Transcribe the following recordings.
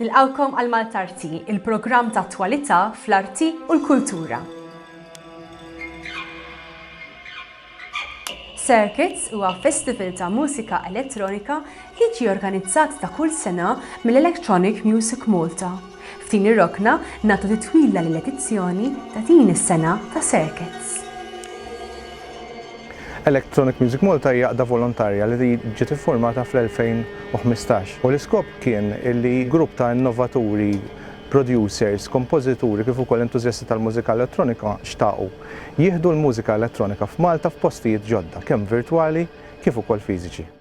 Nilqgħukom għal Maltarti, il-programm ta' attwalità fl-arti u l-kultura. Circuits huwa festival ta' mużika elettronika li jiġi organizzat ta' kull sena mill-Electronic Music Malta. F'din ir-rokna nagħtu titwila lill-edizzjoni ta' din is-sena ta' Circuits. Electronic Music Malta hija għaqda volontarja li ġiet iffurmata fl-2015 u l-iskop kien li grupp ta' innovaturi, producers, kompożituri kif ukoll entużjasti tal-mużika elettronika xtaqu jieħdu l-mużika elettronika f'Malta f'postijiet ġodda kemm virtwali kif ukoll fiżiċi.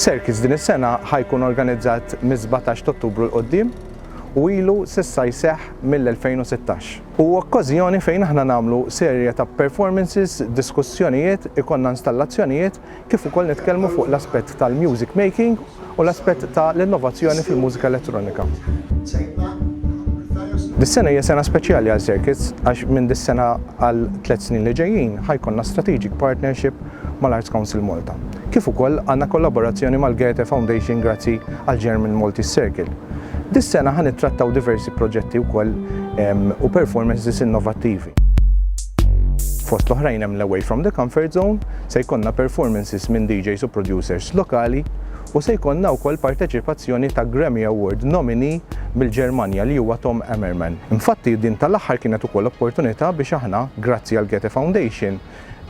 Circus din is-sena ħa jkun organizzat mis-sbatax t'Ottubru 'l quddiem u ilu s'issa jseħħ mill-2016. Hu okkażjoni fejn aħna nagħmlu serje ta' performances, diskussjonijiet, ikollna installazzjonijiet kif ukoll nitkellmu fuq l-aspett tal-music making u l-aspett ta' l-innovazzjoni fil-mużika elettronika. Dis-sena hija sena speċjali għal Circuits għax minn dis-sena għal tliet snin li ġejjin ħa jkollna strategic partnership mal-Arts Council Malta, kif ukoll għandna kollaborazzjoni mal-Goethe Foundation grazzi għall-German Maltese Circle. Dis-sena ħa nittrattaw diversi proġetti wkoll u performances innovattivi. Fost l-oħrajn hemm l-Away from the Comfort Zone, se jkollna performances minn DJs u producers lokali u se jkollna wkoll parteċipazzjoni ta' Grammy Award nominee mill-Ġermanja li huwa Tom Ammerman. Infatti din tal-aħħar kienet ukoll opportunità biex aħna, grazzi għal Goethe Foundation,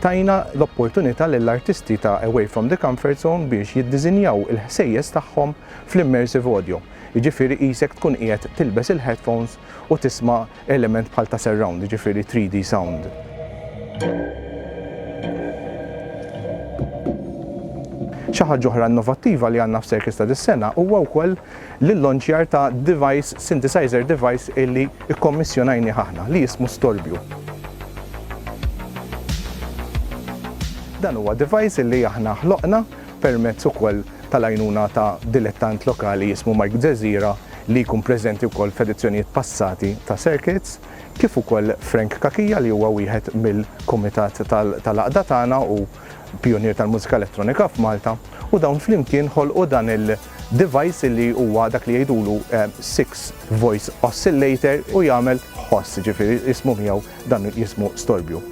tajna l-opportunità lill-artisti ta' Away from the Comfort Zone biex jiddiżinjaw il-ħsejjes tagħhom fl-immersive audio, jiġifieri qisek tkun qiegħed tilbes il-headphones u tisma' element bħal ta' surround, jiġifieri 3D sound. Xi ħaġa oħra innovattiva li għandna f'CIRCUS ta' dis-sena huwa wkoll l-illanċjar ta' device, synthesizer device illi kkommissjonajnieh aħna li jismu Storbju. Dan huwa device illi aħna ħloqna. permezz ukoll tal-għajnuna ta' dilettant lokali jismu Mike Zezira li jkun preżenti wkoll f'edizzjonijiet passati ta' Circuits, kif ukoll Frank Cachia li huwa wieħed mill-kumitat tal-għaqda tagħna u pjunier tal-mużika elettronika f'Malta, u dawn flimkien ħolqu dan il-device li huwa dak li jgħidulu six voice oscillator u jagħmel ħoss, jiġifieri jismu miegħu dan jismu storbju.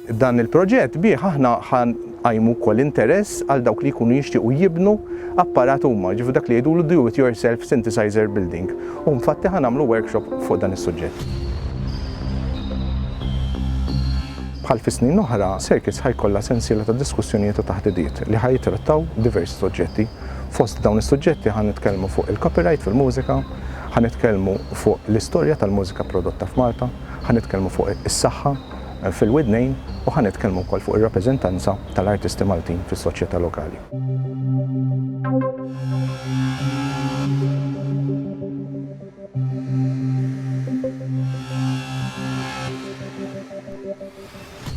Dan il-proġett bih aħna ħa nqajmu wkoll interess għal dawk li jkunu jixtiequ jibnu apparat huma, jiġifieri dak li jgħidulu do it yourself synthesizer building, u infatti ħa nagħmlu workshop fuq dan is-suġġett. Bħal fi snin oħra, Circuits ħa jkollha sensiela ta' diskussjonijiet u taħdidiet li ħa jittrattaw diversi suġġetti. Fost dawn is-suġġetti ħa nitkellmu fuq il-copyright fil-mużika, ħa nitkellmu fuq l-istorja tal-mużika prodotta f'Malta, ħa nitkellmu fuq is-saħħa, fil-widnejn u ħa nitkellmu wkoll fuq ir-rappreżentanza tal-artisti Maltin fis-soċjetà lokali.